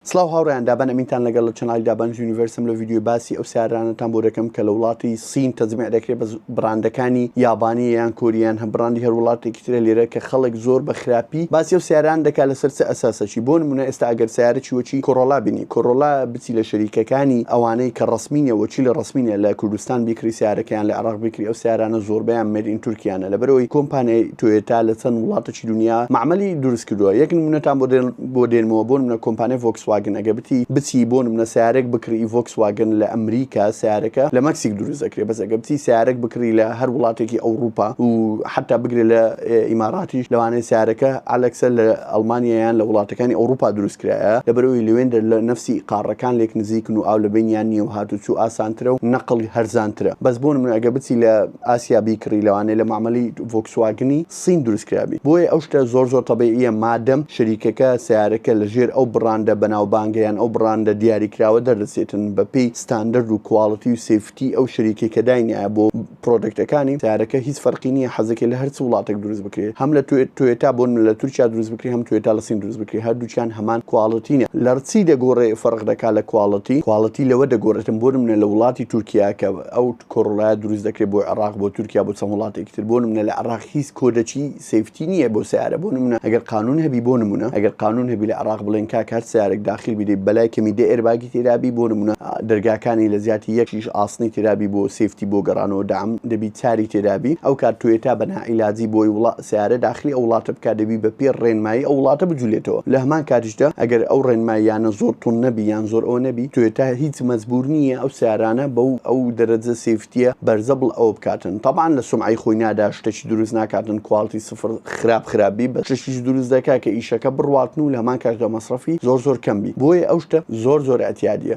سڵاو هاوڕێیان دابان ئەمینتان لەگەڵ لە چەناڵی دابان یونیڤەرسم لە ڤیدیۆی باسی ئەو سیارانەتان بۆ دەکەم کە لە وڵاتی سین تەزمیع دەکرێت بە بڕاندەکانی یابانی یان کۆریان هە بڕاندی هەر وڵاتێکی ترە لێرە کە خەڵک زۆر بە خراپی باسی ئەو سیاران دەکات لەسەر چ ئەساسەکی بۆ نمونە ئێستا ئەگەر سیارە چی وەکی کۆڕۆلا بینی کۆڕۆلا بچی لە شەریکەکانی ئەوانەی کە ڕسمینە وەکی لە ڕسمینە لە کوردستان بیکری سیارەکەیان لە عێراق بیکری ئەو سیارانە زۆربەیان مەرین تورکیانە لەبەرەوەی کۆمپانیای تۆیۆتا لە چەند وڵاتەکی دونیا مەعمەلی دروست کردووە یەک نمونەتان بۆ بۆ دێنمەوە بۆ نمونە کۆمپانیای ڤۆکس واگن ئەگەر بتی بچی بۆ نمونە سەیارەێک بکڕی ڤۆکس واگن لە ئەمریکا سەیارەکە لە مەکسیک دروست دەکرێ بەس ئەگەر بچی سەیارەێک بکڕی لە هەر وڵاتێکی ئەوڕوپا و حەتا بگرێ لە ئیماراتیش لەوانەیە سەیارەکە ئەلەکسە لە ئەڵمانیا یان لە وڵاتەکانی ئەوڕوپا دروست کرایە لەبەر ئەوی لەوێندە لە نەفسی قاڕەکان لێک نزیکن و ئاو لە بەینیان نییە و هاتوچوو ئاسانترە و نەقڵی هەرزانترە بەس بۆ نمونە ئەگەر بچی لە ئاسیا بیکڕی لەوانەیە لە مەعمەلی ڤۆکسواگنی صین دروست کرابی بۆیە ئەو شتە زۆر زۆر تەبیعیە مادەم شەریکەکە سەیارەکە لە ژێر ئەو بڕاندە بەناوبانگە یان ئەو بڕاندە دیاری کراوە دەردەچێتن بە پێی ستاندەرد و کواڵتی و سەیفتی ئەو شەریکەی کە داینایە بۆ پرۆدەکتەکانی سەیارەکە هیچ فەرقی نیە حەزەکەی لە هەرچ وڵاتەک دروست بکرێت هەم لە تۆیۆتا بۆن لە تورکیا دروست بکرێت هەم تۆیۆتا لە صین دروست بکرێت هەردووکیان هەمان کواڵتینە لەڕچی دەگۆڕێ فەرق دەکا لە کواڵتی کواڵتی لەوە دەگۆڕێتن بۆنمونە لە وڵاتی تورکیا کە ئەو کۆڕلایە دروست دەکرێت بۆ عێراق بۆ تورکیا بۆ چەند وڵاتێکی تر بۆ نمونە لە عێراق هیچ کۆدەچی سیفتی نییە بۆ سیارە بۆ نمونە ئەگەر قانون هەبی بۆ نمونە ئەگەر قانون هەبی لە عێراق بڵێن کاک هەر سیارێک داخل بیدەی بەلای کەمی دە ئێرباگی تێدابی بۆ نمونە دەرگاکانی لە زیاتی یەکیش ئاسنی تێدابی بۆ سیفتی بۆ گەڕانەوە دام دەبی چاری تێدابی ئەو کات تۆیتا بە ناعیلاجی بۆی وڵا سەیارە داخلی ئەو وڵاتە بکات دەبی بە پێی ڕێنمایی ئەو وڵاتە بجولێتەوە لە هەمان کاتیشدا ئەگەر ئەو ڕێنماییانە زۆر توند نەبی یان زۆر ئەوە نەبی تۆیۆتا هیچ مەجبور نییە ئەو سەیارانە بەو ئەو دەرەجە سێفتییە بەرزە بڵ ئەوە بکاتن تەبعەن لە سومعەی خۆی نادا شتەکی دروست ناکاتن کواڵتی سفر خراپ خراپ بی بەس شتەکیش دروست دەکات کە ئیشەکە بڕواتن و لە هەمان کاتیشدا مەسرەفی زۆر زۆر کەم بی بۆیە ئەو شتە زۆر زۆر ئەتیادییە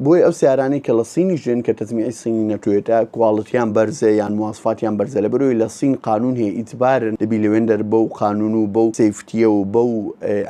بۆیە ئەو سیارانەی کە لە سینیش دێن کە تەجمیعی سینی نەتۆیەتە کواڵتیان بەرزە یان مواسفاتیان بەرزە لەبەرەوەی لە سین قانون هەیە ئیجبارن دەبی لەوێندەر بەو قانون و بەو سەیفتیە و بەو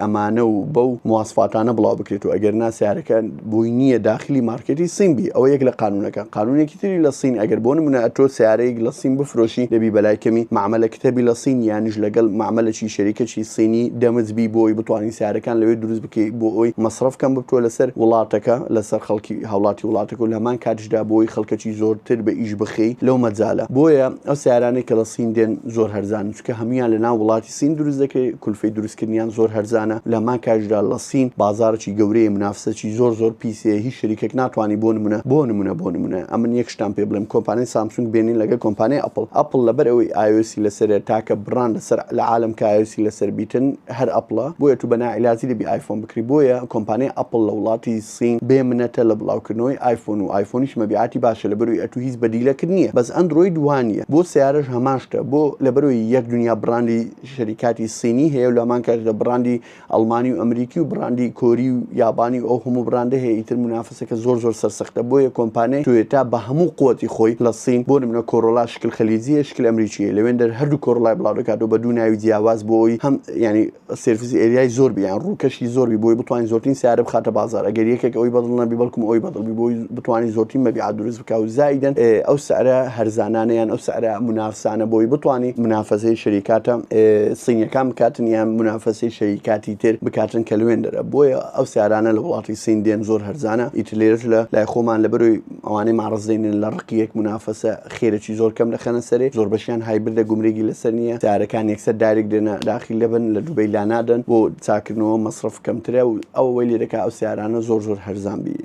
ئەمانە و بەو مواسفاتانە بڵاو بکرێت و ئەگەر نا سیارەکە بۆی نییە داخلی مارکێتی سین بی ئەوە یەک لە قانونەکە قانونێکی تری لە سین ئەگەر بۆ نمونە ئەتۆ سیارەیەک لە سین بفرۆشی دەبی بەلای کەمی معاملەکە هەبی لە سین یانیش لەگەڵ معاملەی شەریکەکی سینی دەمج بی بۆی بتوانین سیارەکان لەوێ دروست بکەیت بۆ ئەوەی مەسرەف کەم ببتوە لەسەر وڵاتەکە لەسەر خەڵکی هاوڵاتی وڵاتەکە و لە هەمان کاتیشدا بۆ ئەوەی خەڵکەکی زۆرتر بە ئیش بخەی لەو مەجالە بۆیە ئەو سیارانەی کە لە سین دێن زۆر هەرزانن چونکە هەموویان لە ناو وڵاتی سین دروست دەکرێت کولفەی دروستکردنیان زۆر هەرزانە لە هەمان کاتیشدا لە سین بازاڕێکی گەورەیە منافسەکی زۆر زۆر پیس هەیە هیچ شەریکەک ناتوانێت بۆ نمونە بۆ نمونە بۆ نمونە ئەمن یەک شتان پێ بڵێم کۆمپانیای سامسونگ بێنین لەگەڵ کۆمپانیای ئەپڵ ئەپڵ لەبەر ئەوەی ئایۆسی لەسەرە تاکە بڕاندە سەر لە عالەم کە ئایۆسی لەسەر بیتن هەر ئەپڵە بۆیە تو بە ناعیلاجی دەبی ئایفۆن بکری بۆیە کۆمپانیای ئەپڵ لە وڵاتی سین بێ منەتە لە بڵاو کردنەوەی ئایفۆن و ئایفۆنیش مەبیعاتی باشە لەبەروی ئەتو هیچ بەدیلەکت نیە بەس ئەندرۆید وانیە بۆ سەیارەش هەمان شتە بۆ لەبەروی یەک دنیا بڕاندی شەریکاتی سینی هەیە و لەمان کاژدا بڕاندی ئەڵمانی و ئەمریکی و بڕاندی کۆری و یابانی و ئەو هەموو بڕاندە هەیە ئیتر منافسە پرسێکە زۆر زۆر سەرسەختە بۆیە کۆمپانیای تۆیۆتا بە هەموو قوتی خۆی لە سین بۆ نمونە کۆرۆلا شکل خلیجیە شکل ئەمریکیە لەوێندەر هەردوو کۆرۆلای بڵاو دەکاتەوە بە دوو ناوی جیاواز بۆ ئەوی هەم یانی سێرفیس ئێریای زۆر بی یان ڕووکەشی زۆر بی بۆی بتوانین زۆرترین سیارە بخاتە بازار ئەگەر یەکێک ئەوی بەدڵ نەبی بەڵکم ئەوی بەدڵ بی بۆی بتوانین زۆرترین مەبیعات دروست کاو زایدەن ئەو سعرە هەرزانانە یان ئەو سعرە منافسانە بۆی بتوانی منافەسەی شەریکاتە سینیەکان بکاتن یان منافەسەی شەریکاتی تر بکاتن کە لوێن دەرە بۆیە ئەو سارانە لە وڵاتی سین دێن زۆر هەرزانە ئیتر لێرەش لە لای خۆمان لەبەروی ئەوانەی ماڕزدێنن لە ڕقی یەک منافەسە خێرەی زۆر کەم دەخەنە سەرێ زۆر بەشیان هایبردە گومرێگی لەسەر نیە سارەکان یەکسەر دارێک دێنە داخی لەبن لە دوبەی لانادەن بۆ چاکردنەوە مەسرف کەمترە و ئەوەی لێ دەکا ئەو سارانە زۆر زۆر هەرزان بی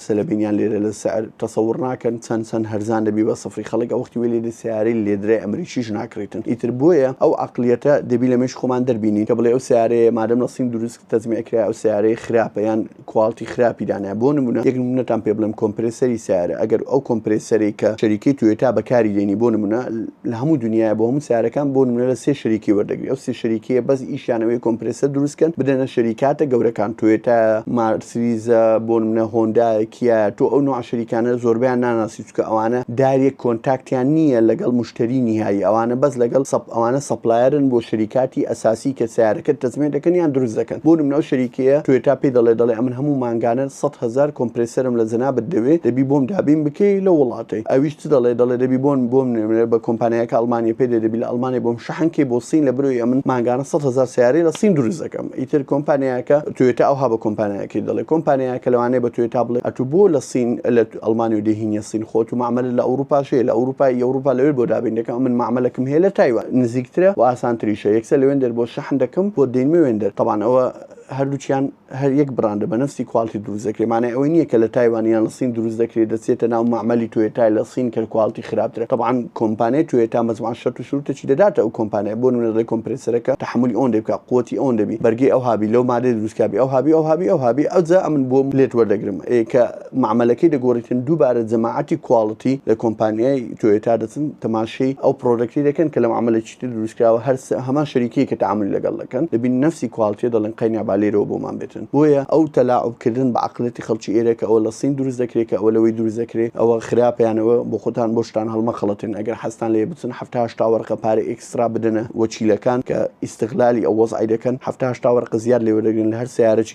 قسە لە بینیان لێرە لە سعر تەسەور ناکەن چەن چەن هەرزان دەبی بە سفری خەڵک ئەوەختی وێ لێدێ سەیارەی لێدرای ئەمریکیش ناکڕیتن ئیتر بۆیە ئەو عەقلیەتە دەبی لە مێش خۆمان دەربینین کە بڵێ ئەو سەیارەیە مادەم لە سین دروست تەجمیع کرایە ئەو سەیارەیە خراپە یان کواڵتی خراپی دانایە بۆ نمونە یەک نمونەتان پێ بڵێم کۆمپرێسەری سەیارە ئەگەر ئەو کۆمپرێسەرەی کە شەریکەی تۆیۆتا بەکاری دێنی بۆ نمونە لە هەموو دنیاە بۆ هەموو سارەکان بۆ نمونە لە سێ شەریکی وەردەگری ئەو سێ شەریکیە بەس ئیشانەوەی کۆمپرسە دروستکەن بدەنە شەریکاتە گەورەکان توێتە مارسریزە بۆ منە هۆندا کیە تۆ ئەو نوع شەریکانە زۆربیان ناناسی چکە ئەوانە داریە کۆنتاکتیان نییە لەگەڵ مشتری نهایی ئەوانە بەس لەگەڵ سەپ ئەوانە سەپلایەرن بۆ شەریکاتی ئەساسی کە سیارەکە تەزمێ دەکەن یان دروست دەکەن بۆ منەوە شەریکەیە توێتا پێی دەڵێ دەڵێ ئەمن هەموو مانگانە 100هزار کۆمپرسەرم لە جەنابەت دەوێت دەبی بۆم دابین بکەی لە وڵاتەی ئەویش چ دەڵێ دەڵێ دەبی بۆن بۆم نوێ بە کۆمپانیایەکە ئەڵمانیە پێ دەبی لە ئەڵمانیا بۆم شەحن کەی بۆ سین لە برۆی ئەمن ماگانە 100 هزار سیارەی لە سین دروست دەکەم ئیتر کۆمپانیایەکە توێتە ئەوها بە کۆمپانیایەکەی دەڵێ کۆمپانیایەکە لەوانەیە بە توێتا بڵێ ئەتو بۆ لە سین لە ئەڵمانی و دێهینە سین خۆت و معمەلە لە ئەوروپاش هەیە لە ئەوروپای ئەوروپا لەوێ بۆ دابین دەکەم من معمەلەکەم هەیە لە تایوان نزیکترە و ئاسانتریشە یەکسەر لەوێن دەر بۆ شەحن دەکەم بۆ دێنمە وێندەر تەبان ئەوە هەردووچیان هەر یەک بڕاندە بە نەفسی کوالتی دروست دەکرێت مانای ئەوەی نییە کە لە تایوان یان لە سین دروست دەکرێت دەچێتە ناو مەعمەلی توێتای لە سین کە کوالتی خراپترە طبعا کۆمپانیای توێتا مەجموعە شەرت و شروتێکی دەداتە ئەو کۆمپانیای بۆ نمونە دەڵێ کۆمپرێسەرەکە تەحەمولی ئەوەندە بکا قوتی ئەوەندە بی بەرگی ئەوها بی لەو مادەی دروستکا بی ئەوها بی ئەوها بی ئەوها بی ئەوجا ئەمن بۆم لێت وەردەگرم ئێ کە مەعمەلەکەی دەگۆڕیتن دووبارە جەماعەتی کواڵتی لە کۆمپانیای توێتا دەچن تەماشەی ئەو پڕۆدەکتی دەکەن کە لە مەعمەلێکی شتی دروستکراوە هەر هەمان شەریکەی کە تەعامولی لەگەڵ دەکەن دەبینن نەفسی کواڵتیە دەڵێن قەینا با لێرەوە بۆمان بێتن بۆیە ئەو تەلاعوب کردن بە عەقڵیەتی خەڵکی ئێرە کە ئەوە لە سین دروست دەکرێ کە ئەوە لەوەی دروست دەکرێ ئەوە خراپە یان ئەوە بۆ خۆتان بۆ شتان هەڵمەخەڵەتێن ئەگەر حەزتان لێیە بچن حەفتا هەشتا وەرقە پارەی ئێکسترا بدەنە وەکیلەکان کە ئیستغلالی ئەو وەزعەی دەکەن حەفتا هەشتا وەرقە زیاد لێوەردەگرن لە هەر سەیارەکی